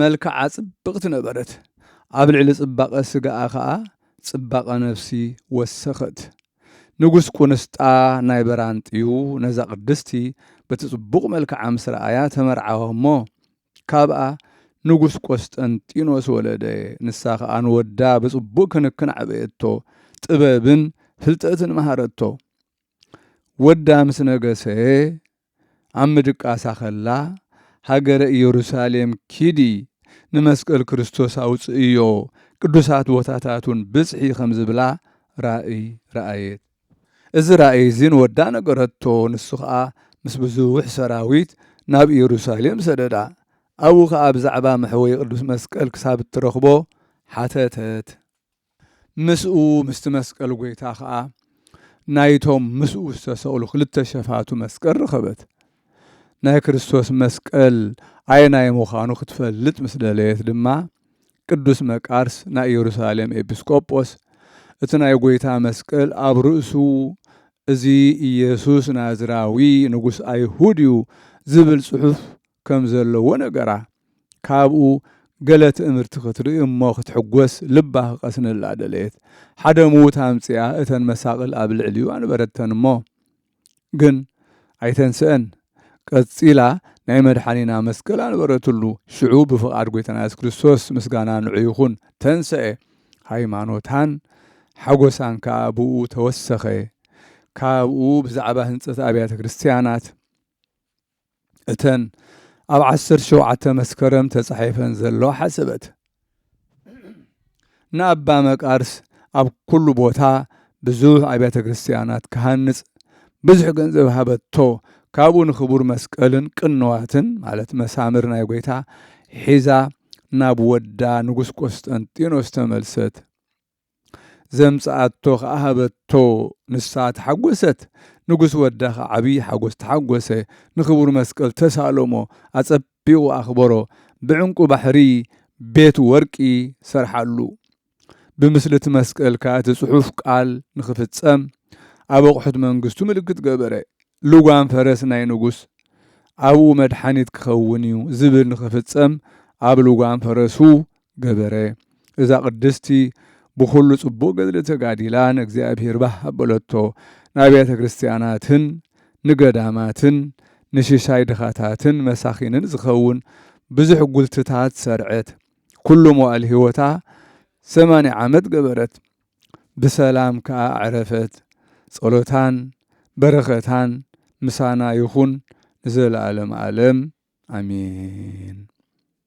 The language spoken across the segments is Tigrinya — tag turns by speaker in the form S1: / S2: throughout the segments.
S1: መልክዓ ጽብቕቲ ነበረት፣ ኣብ ልዕሊ ጽባቐ ስጋኣ ኸኣ ጽባቐ ነፍሲ ወሰኸት። ንጉስ ቍንስጣ ናይ በራንጥዩ ነዛ ቅድስቲ በቲ ጽቡቕ መልክዓ ምስ ረኣያ ተመርዓወ እሞ፣ ካብኣ ንጉስ ቈስጠንጢኖስ ወለደ፣ ንሳ ኸኣ ንወዳ ብጽቡቕ ክንክን ኣዕበየቶ፣ ጥበብን ፍልጠትን መሃረቶ። ወዳ ምስ ነገሰ ኣብ ምድቃሳ ኸላ፣ ሃገረ ኢየሩሳሌም ኪዲ፣ ንመስቀል ክርስቶስ ኣውጽእዮ፣ ቅዱሳት ቦታታቱን ብጽሒ ኸም ዝብላ ራእይ ረኣየት። እዚ ራእይ እዚ ንወዳ ነገረቶ፣ ንሱ ኸኣ ምስ ብዙሕ ሰራዊት ናብ ኢየሩሳሌም ሰደዳ። ኣብኡ ኸኣ ብዛዕባ መሕወዪ ቅዱስ መስቀል ክሳብ እትረኽቦ ሓተተት። ምስኡ ምስቲ መስቀል ጐይታ ኸኣ ናይቶም ምስኡ ዝተሰቕሉ ክልተ ሸፋቱ መስቀል ረኸበት። ናይ ክርስቶስ መስቀል ኣየናይ ምዃኑ ክትፈልጥ ምስ ደለየት ድማ ቅዱስ መቃርስ ናይ ኢየሩሳሌም ኤጲስቆጶስ እቲ ናይ ጐይታ መስቀል ኣብ ርእሱ እዚ ኢየሱስ ናዝራዊ ንጉስ ኣይሁድ እዩ ዝብል ጽሑፍ ከም ዘለዎ ነገራ። ካብኡ ገለ ትእምርቲ ክትርኢ እሞ ክትሕጎስ ልባ ክቀስንላ ደለየት። ሓደ ምዉት ኣምጺኣ እተን መሳቕል ኣብ ልዕሊኡ ኣንበረተን እሞ ግን ኣይተንስኣን። ቀጺላ ናይ መድሓኒና መስቀል ኣንበረትሉ። ሽዑ ብፍቓድ ጎይታና የሱስ ክርስቶስ ምስጋና ንዑ ይኹን ተንሰኤ። ሃይማኖታን ሓጎሳን ከኣ ብእኡ ተወሰኸ። ካብኡ ብዛዕባ ህንጸት ኣብያተ ክርስትያናት። እተን ኣብ ዓሰርተ ሸውዓተ መስከረም ተጻሒፈን ዘለዋ ሓሰበት ንኣባ መቃርስ ኣብ ኩሉ ቦታ ብዙሕ ኣብያተ ክርስትያናት ክሃንጽ ብዙሕ ገንዘብ ሃበቶ ካብኡ ንክቡር መስቀልን ቅንዋትን ማለት መሳምር ናይ ጎይታ ሒዛ ናብ ወዳ ንጉስ ቆስጠንጢኖስ ተመልሰት ዘምጽኣቶ ኸኣ ሃበቶ፣ ንሳ ተሓጐሰት፣ ንጉስ ወዳ ኸኣ ዓብዪ ሓጐስ ተሓጐሰ፣ ንኽቡር መስቀል ተሳእሎ'ሞ ኣጸቢቑ ኣኽበሮ፣ ብዕንቊ ባሕሪ ቤት ወርቂ ሰርሓሉ፣ ብምስሊ'ቲ መስቀል ከኣ እቲ ጽሑፍ ቃል ንኽፍጸም ኣብ ኣቝሑት መንግስቱ ምልክት ገበረ፣ ልጓም ፈረስ ናይ ንጉስ ኣብኡ መድሓኒት ክኸውን'ዩ ዝብል ንኽፍጸም ኣብ ልጓም ፈረሱ ገበረ። እዛ ቅድስቲ ብኹሉ ጽቡቕ ገድሊ ተጋዲላ ንእግዚኣብሔር ባህ ኣበለቶ። ንኣብያተ ክርስቲያናትን ንገዳማትን ንሽሻይ ድኻታትን መሳኺንን ዝኸውን ብዙሕ ጉልትታት ሰርዐት። ኩሉ መዋእል ሕይወታ ሰማንያ ዓመት ገበረት። ብሰላም ከኣ ኣዕረፈት። ጸሎታን በረኸታን ምሳና ይኹን ንዘለዓለም ዓለም ኣሜን።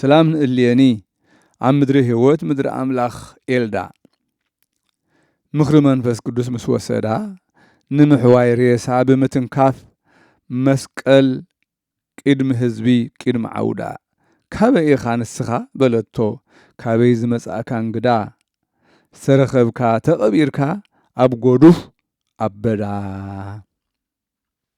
S1: ስላም ንእልየኒ ኣብ ምድሪ ህይወት ምድሪ ኣምላኽ ኤልዳ ምኽሪ መንፈስ ቅዱስ ምስ ወሰዳ ንምሕዋይ ሬሳ ብምትንካፍ መስቀል ቅድሚ ህዝቢ ቅድሚ ዓውዳ ካበይ ኢኻ ንስኻ በለቶ ካበይ ዝመጻእካ እንግዳ ዝተረኸብካ ተቐቢርካ ኣብ ጎዱፍ ኣበዳ